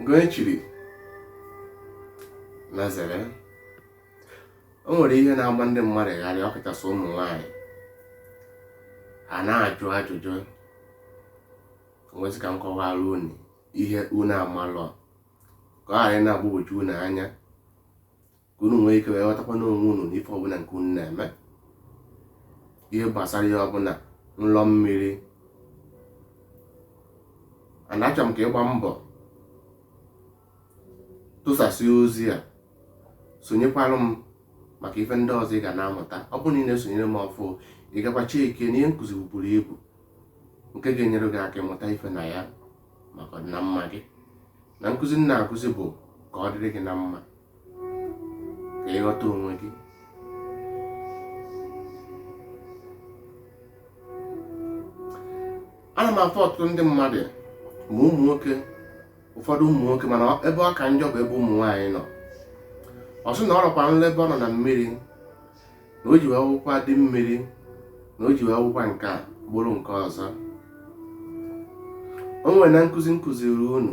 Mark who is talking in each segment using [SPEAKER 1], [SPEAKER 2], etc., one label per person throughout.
[SPEAKER 1] nke onye chiri nya zere o nwere ihe na-agba ndị mmadụ gharị ọ kachasị ụmụ nwaanyị a na-ajụ ajụjụ m wee sị ka m kọwara unu ihe unu amalụ ka ọ ghara ịna-agbagwoju unu anya ka unu nwee ike wee ghọtakwa n'onwe unu na ife ọbụla nke unu na-eme ihe gbasara ihe ọbụla nlọ mmiri ana achọ m ka ị gbaa mbọ tụsasị ozi a sonyekwara m maka ife ndị ọzọ ị ga na-amụta ọ bụrụ na ị na-esonyere m ọfụụ ị gakwa checkie na ihe nkụzi buru ibu nke ga-enyere gị aka ịmụta ife na ya maka ọdịnamma gị na nkụzi m na-akụzi bụ ka ọ dịrị gị na mma ka ị ghọta onwe gị ana m afụ ọtụtụ ndị mmadụ ma ụmụ nwoke ụfọdụ ụmụ nwoke mana ebe ọ ka njọ bụ ebe ụmụ nwaanyị nọ ọ sị na ọ rọkwa nlọ ebe ọ nọ na mmiri na o ji wee wụkwa di mmiri na o ji wee wụkwa nke a bụrụ nke ọzọ o nwere na nkụzi m kụziri unu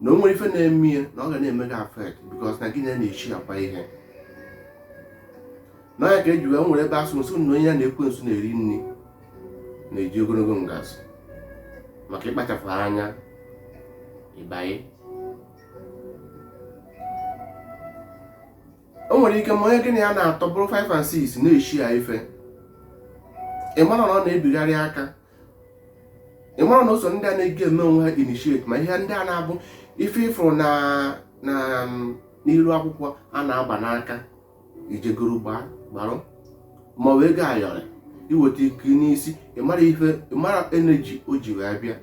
[SPEAKER 1] na o nwere ife na-eme ya na ọ ga na-eme gị affect because na gị na ya na-esharekwa ihe na ya ka e ji wee nwere ebe a sị sị na onye ya na ekwensu na-eri nri na-eji ogologo ngazi maka ịkpachapụ anya ịbanye o nwere ike ma onye gị na ya na-atọ bụrụ 5 and 6 na-eshare ife ị mara na ọ na-ebigharị aka ị mara na o so ndị a na-eje eme onwe ha initiate ma ihe ndị a na-abụ ife ị fụrụ na na n'iru akwụkwọ a na-agba n'aka i je goro gbaa gbarụ ma ọ wụ ego ayọrọ i weta i kee n'isi ị mara ife ị mara energy o ji wee bịa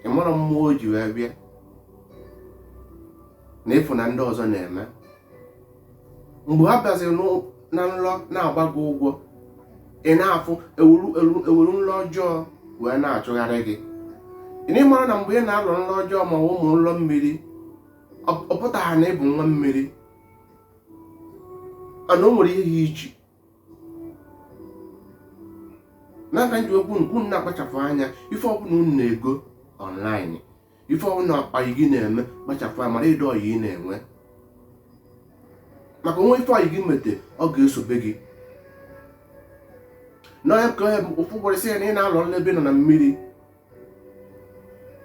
[SPEAKER 1] ị mara mmụọ o ji wee bịa na ị fụ na ndị ọzọ na-eme mgbe ha bịaziri n'ụ- na nlọ na-agba gị ụgwọ ị na-afụ e weru e weru- e weru nlọ ọjọọ wee na-achụgharị gị na ị mara na mgbe ị na-alọ nlọ ọjọọ ma ọ bụ ụmụ nlọ mmiri ọ ọ pụtaghị na ị bụ nwa mmiri ana o nwere ihe ya iche nya ka m ji ekwu ka unu na-akpachapụ anya ife ọbụla unu na-ego online ife ọbụla ọyị gị na-eme kpachapụ anya mara ụdị ọyị ị na-enwe maka o nwee ife ọyị gị mete ọ ga-esobe gị na ya ka ọ bụ ọ bụrụ sị ya na ị na-alọ nlọ ebe ị nọ na mmiri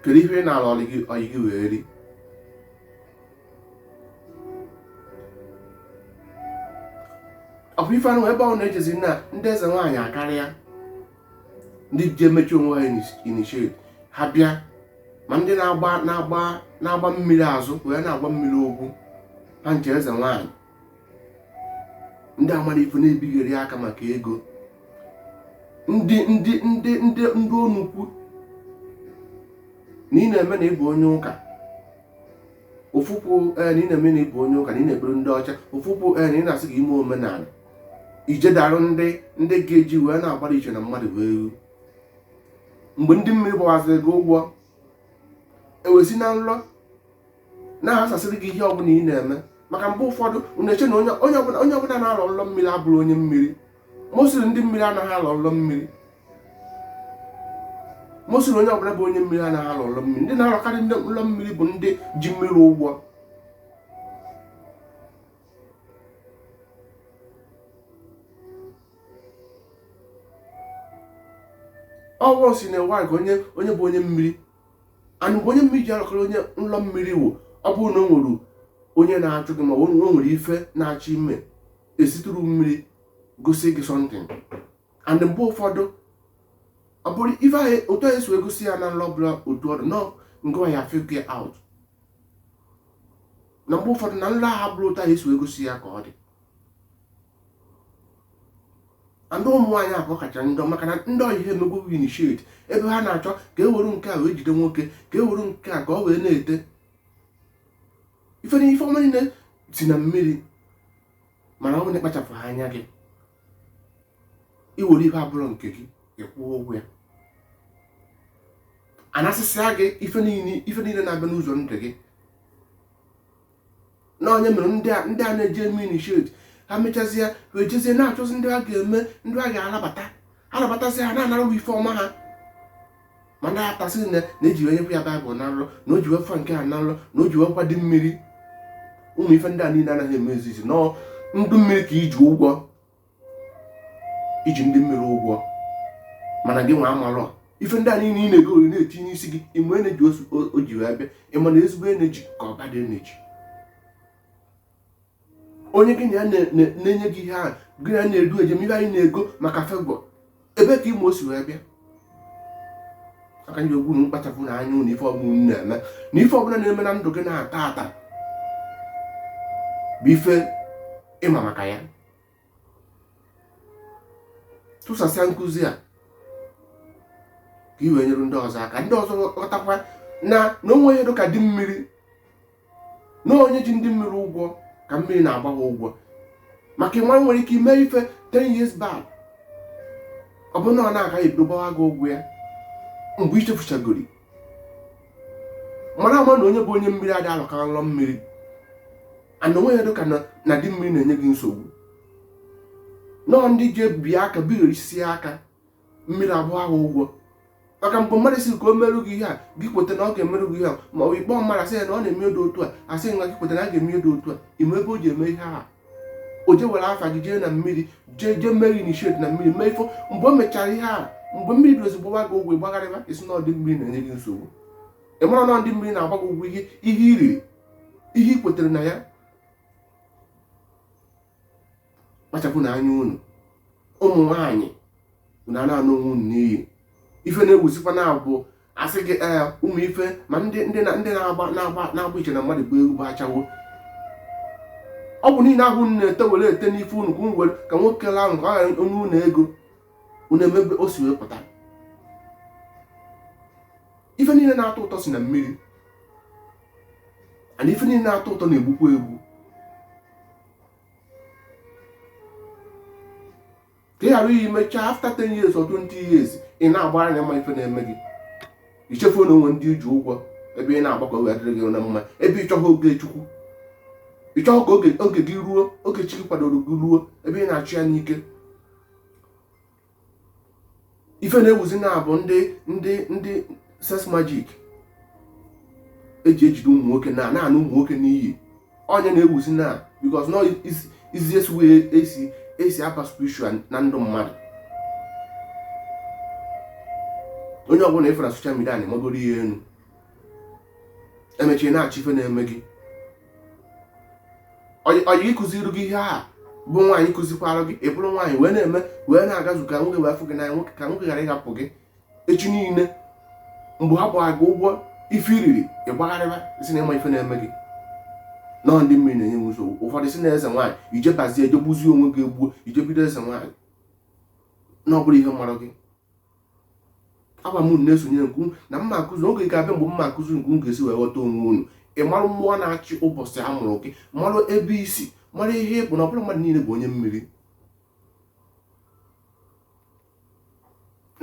[SPEAKER 1] kedu ihe ị na-alụ ọyị gị wee ri ofu ife anụ ebe ọ na-echezi na ndị eze nwaanyị akarịa ndị ji emechi onwe ha initiate ha bịa ma ndị na-agba mmiri azụ wee na-agwọ mmiri ọgwụ ha ncha eze nwaanyị ndị amarọ ife na-ebigharị aka maka ego ndị ndị onukwu na ị na-eme na ị bụ onye ụka ofu ụkwụ na ị na-eme na ị bụ onye ụka na ị na-ekpere ndị ọcha ofu ụkwụ na ị na-asị ka i mee omenala i jedaru ndị ndị ga-eji wee na-agbara iche na mmadụ wee ru mgbe ndị mmiri gbawaziri gị ụgwọ e wee si na nlọ na-aghasasịrị gị ihe ọbụla ị na-eme maka mgbe ụfọdụ unu eche na onye ọbụla na-alọ nlọ mmiri abụrụ onye mmiri mostly ndị mmiri anaghị alọ nlọ mmiri mostly onye ọbụla bụ onye mmiri anaghị alọ nlọ mmiri ndị na-alọkarị nlọ mmiri bụ ndị ji mmiri ụgwọ ọ wụrọ sị na-ewe ka onye bụ onye mmiri and mgbe onye mmiri ji alọkarị onye nlọ mmiri wụ ọ bụrụ na o nwere onye na-achụ gị ma o nwere ife na-achọ ime e si through mmiri gosi gị something and mgbe ụfọdụ ọ bụrọ ife ahụ otu ahụ e si wee gosi ya na nlọ bụla otu ọ dị na ọ gị nwa ya figure out na mgbe ụfọdụ na nlọ ahụ bụrụ otu ahụ e si wee gosi ya ka ọ dị and ụmụ nwaanyị ka ọ kacha njọ maka na ndị ọyị ha emegbu initiate ebe ha na-achọ ka e were nke a wee jide nwoke ka e were nke a ka ọ wee na-ete ife na ife ọma niile si na mmiri mana ọ bụrụ na ị kpachapụha anya gị i were ihe abụrọ nke gị ị kwụọ ụgwọ ya a nasịsịa gị ife niile na-abịa n'ụzọ ndụ gị na ọ ya mere ndị a na-eje eme initiate ha mechazie wee jezie na-achọzi ndị a ga-eme ndị a ga-anabata anabatazi ha na-anara ife ọma ha ma ndị atasị na na-eji wee nyekwa ya baịbụl na nrọ na o ji wee fụ nke a na nrọ na o ji wee kwado mmiri ụmụ ife ndị a niile anaghị emezi na ọ ndị mmiri ka i ji ụgwọ i ji ndị mmiri ụgwọ mana gị nwa amarọ ife ndị a niile ị na-ego ori na-etinye isi gị ị ma energy o ji wee bịa ị ma ma ezigbo energy ka ọ bad energy onye gị na ya na-enye gị ihe ahụ gị na na-edu ejem ihe anyị na-ego maka favour ebee ka ị ma o si wee bịa aka ndị ogwu na mkpachapụ na anya na ife ọbụla na-eme na ife ọbụla na-eme na ndụ gị na taata bụ ife ị ma maka ya tụsasịa nkụzi a ka i wee nyere ndị ọzọ aka ndị ọzọ ghọtakwa na na o nwe ihe dịka di mmiri na onye ji ndị mmiri ụgwọ ka mmiri na-agba ha ụgwọ maka ị ma nwere ike ime ife 10 years back ọ bụrụ now ka a ga-ebido gbawa gị ụgwọ ya mgbe i chefuchagori mara ama na onye bụ onye mmiri adị alọka nlọ mmiri and o nwe ihe dịka na di mmiri na-enye gị nsogbu no ndị ji ebibi aka bighorisi aka mmiri agbawa ụgwọ maka mgbe mmadụ sị ka o merụ gị ihe a gị kweta na ọ ga-emerụ gị ihe a ma ọ bụ ị kpọ mmadụ asị ya na ọ na-eme edo otu a asị nwa gị kweta na a ga-eme edo otu a ị ma ebe o ji eme ihe a o je were afa gị jee na mmiri jee jee mee gị initiate na mmiri mee ifo mgbe o mechara ihe a mgbe mmiri bidozi gbawa gị ụgwọ ị gbagharịba ị sị na ọ di mmiri na-enye gị nsogbu ị mara na ndị mmiri na-agba gị ụgwọ ihe ihe i riri ihe i kwetere na ya kpachapụnụ anya unu ụmụ nwaanyị unu na-ana onwe unu n'iyi ife na-ewuzikwa now bụ a sị gị ee ụmụ ife ma ndị ndị na-agba na-agba na-agba iche na mmadụ bụ egwu bụ ashawo ọgwụ niile ahụ unu na-ete were ete n'ife unu ka unu were ka nwoke laa ahụ ka ọ ghara o nye unu ego unu ama ebe o si wee pụta ife niile na-atọ ụtọ si na mmiri and ife niile na-atọ ụtọ na-egbukwa egbu ka ị ghara iyi mechaa after 10 years or 20 years ị na-agba anya ma ife na-eme gị i chefuo na o nwe ndị i ji ụgwọ ebe ị na-agba ka o wee dịrị gị na mma ebe ị chọghị oge Chukwu ị chọghị ka oge gị ruo oge chi gị kwadoro gị ruo ebe ị na-achụ ya n'ike ife na-ewuzi now bụ ndị ndị ndị sex magic e ji ejide ụmụ nwoke na na-ana ụmụ nwoke n'iyi ọ ya na-ewuzi now because na ọ easiest way esi esi apa spiritual na ndụ mmadụ onye ọbụla ị fụrụ na social media na-emegoro ihe enu e mechaa ị na-achọ ife na-eme gị ọyị kụziri gị ihe a bụ nwaanyị kụzikwara gị ị bụrụ nwaanyị wee na-eme wee na-agazu ka nwoke wee fụ gị n'anya nwoke ka nwoke ghara ịhapụ gị echi niile mgbe ha gbara gị ụgwọ ife i riri ị gbagharịba sị na ị ma ife na-eme gị na ọ ndị mmiri na-enye m nsogbu ụfọdụ sị na eze nwaanyị i jee bazie i jee gbuzie onwe gị egbuo i jee bido eze nwaanyị na ọ bụrụ ihe mara gị agwa m unu na-esonyere nke unu na m ma akụzi oge ga-abịa mgbe m ma akụzi ka unu ga-esi wee ghọta onwe unu ị marụ mmụọ na-achị ụbọchị a mụrụ gị marụ ebe i si mara ihe ị bụ na ọ bụrọ mmadụ niile bụ onye mmiri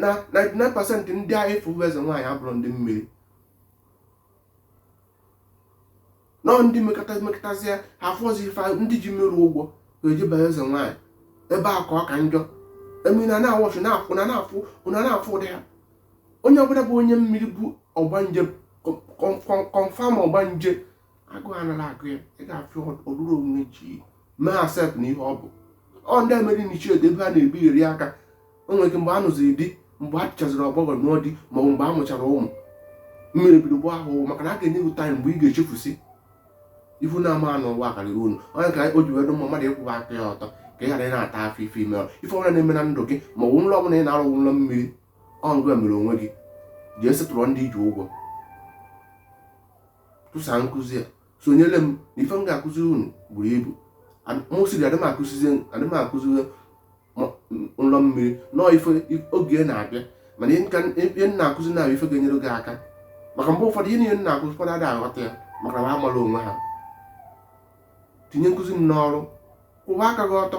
[SPEAKER 1] na 99% ndị afụ bụ eze nwaanyị abụrọ ndị mmiri na ndị mekatasịa ha afọzi ife ndị ji mmiri ụgwọ eje be eze nwaanyị ebe a ka ọ ka njọ I mean a na-awọchụ na-afụ ụdị ha onye ọbụla bụ onye mmiri bụ ọgbanje kọnfam ọgbanje agụ anara agụ ya ị ga-afụ ọrụrụ onwe ji mee accept na ihe ọ bụ ọ ndị e mere initiate ebe ha na-ebigheri aka o nwere ike mgbe ọ nụziri di mgbe a chọziri ọgbọghọ nụọ di maọbụ mgbe a mụchara ụmụ mmiri bido gbaa ahụhụ maka na a ga-enye gị taịm mgbe ị ga-echefusi ihe unu amaghị n'ụwa karịrị unu ọ ya ka o ji wee dụ mma mmadụ ịkwụwa aka ya ọtọ ka ị ghara ị na-ata afụfụ ife i me ife ọbụla na-eme na ndụ gị ma ọ bụ nrọ ọbụla ị na-arọ nrọ mmiri ọ ngị mere onwe gị jee setụọ ndị i ji ụgwọ tụsa nkụzi a sonyere m na ife m ga-akụzi unu buru ibu mụ sịrị adịghị m akụzizi nrọ mmiri nọọ ife oge na-abịa mana ihe m na-akụzi na ife ga-enyere gị aka maka mgbe ụfọdụ ihe niile m na-akụzi ụfọdụ adịghị aghọta ya maka na ha amarọ onwe ha tinye nkụzi m n'ọrụ kwụwa aka gị ọtọ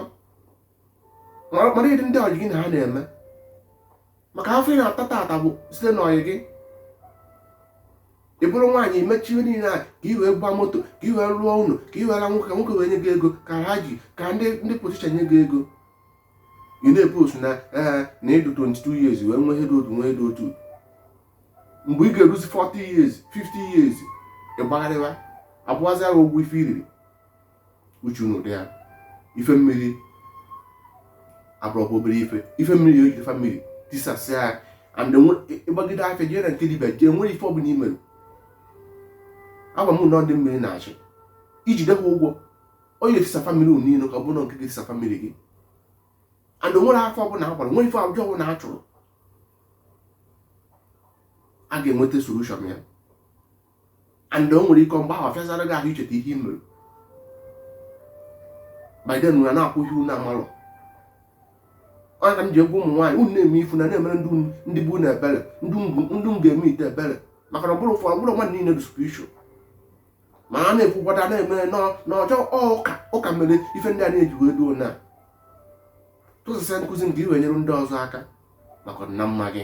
[SPEAKER 1] mara ụdị ndị ọyị gị na ha na-eme maka afụfụ ị na-ata tata bụ site n'ọyị gị ị bụrụ nwaanyị ị mechaa ihe niile a ka i wee gba moto ka i wee rụọ ụlọ ka i wee ra nwoke nwoke wee nye gị ego ka ha ji ka ndị ndị politishan nye gị ego ị na-epost na ee eh, na ị dụ 22 years wee nwee ihe dụ otu nwee ihe dụ otu mgbe ị ga-eruzi 40 years 50 years ị gbagharịwa abụazịa gị ụgwọ ife i riri uche unu dị ya ife mmiri abụrọkwa obere ife ife mmiri o jide famili tisasịa ya and ị gbagide afa jee na nke dibịa e nwerọ ife ọbụla i mere agwa m na ọ ndị mmiri na-asị i jide ha ụgwọ ọ ya ga-etisa famili unu niile ka ọ bụrụ nke ga-etisa famili gị and e nwerọ afa ọbụla a gbara e nwerọ ife ọjọọ ọbụla a chụrụ a ga-enweta solushọn ya and o nwere ike mgbe ọ fịazara gị ahụ icheta ihe i mere by then na na-akwụ ihe unu amalụ ana m ji agwa ụmụ nwaanyị unu na-eme ife unu na-emere ndị bụ na ebere ndị m ga-eme ite ebere maka na ọ bụrọ ụfọdụ ọ bụrọ mmadụ niile dị spiritual ma a na-ekwukwada na-eme n'ọjọ ụka ụka mere ife ndị a na-eji wee duo na tụsasịa nkụzi ka i wee nyere ndị ọzọ aka maka na mma gị